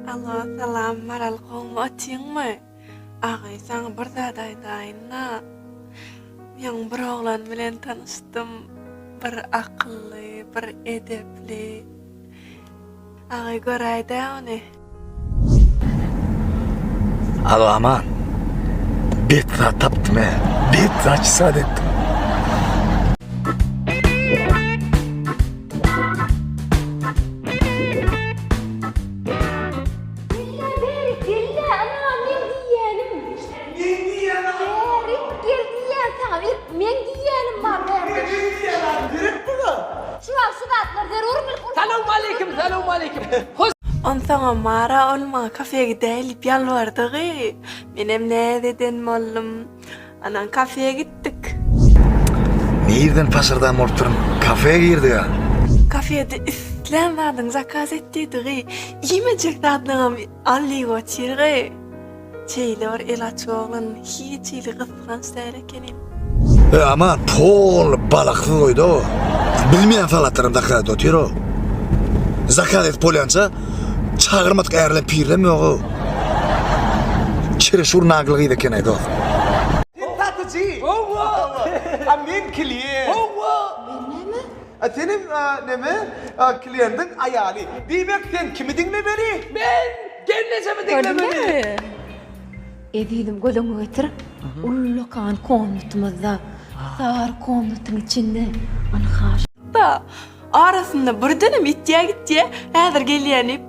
Alo, salam, Maral gowmy, otyňmy? Agy, saňa bir zat aýdaýyn-da. Men bir oglan bilen tanyşdym. Bir akylly, bir edepli. Agay göräý dä ony. Alo aman. Bet zat tapdym he. Bet zat sad etdim. Men diýýän zat Dogry gel diýýän saňa ilk meň diýýänim bar dogry. Meň diýýän zatym gerek bular. Çuwal şu zatlar zerur ilk urşa. Salowmaleýkim salowmaleýkim. Onsaňam Mara ol maňa kafe gidäýeli diýip ýalbardygy. Menem näz eden boldum. Anan kafe gitdik. Nirden paşyrdan bolup durun kafe girdiga. Kafede islän zadyňy zakaz et diýdigi. Iýmejek zatlaňam al diýip otyrgy. Şeýle bir el açyp oglan hiç hili gysganç däl ekeni. Öý aman pol balaksyz goýda o. Bilmeýän salatlaram zakaz otyr o. Zakaz edip bolýança çagyrmadyk ärlem pirlem ýok o. Çereşur nagly gyz eken aý dost. Sen satyjy? Howwa. A men klient. Howwa. Men näme? A seniň a neme a kliendiň aýaly. Diýmek sen kimi diňlemeli? Men gelnejemi diňlemeli. Gördüňizmi? Ezizim göz öňüňe getir. Ullakan komnatymyzda, sary komnatyň içinde ynha şu. Da, arasynda birdenem ýitýä gitýä, häzir gelýän diýip.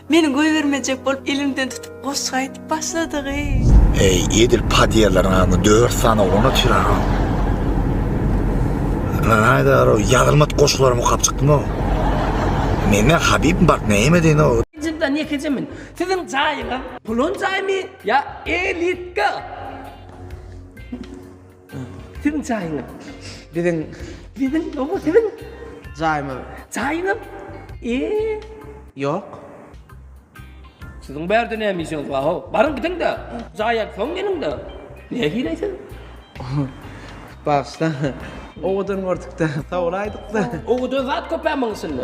Meniň goýbermejek bolup elimden tutup goşgy aýdyp başladygy. Eý, edil podýellaryň adyna dört sany oglan-a çyraga. Aýdar-ow, ýazylmadyk goşgularam okap çykdym-ow. Mende Habib bar, näme diýen-ow. Njydan ýekejemin. Siziň jaýyňyz pulun jaýmy ýa elitka? Siziň jaýyňyz. Biziň. Biziň doňa siziň. Jaýymyz. Jaýyňyz. Eee. Ýok. Siziň bärde näme işiňiz bar ho? Baryň gidiň-de. Jaýa soň geliň-de. Nähili siz? Bagyşlaň. Owadan gördük-de. Sowulaýdyk-da. Owadan zat köpä muň içinde.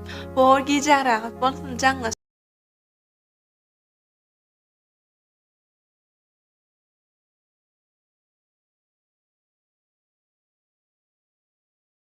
Bor gijäň rahat bolsun jaňlaş.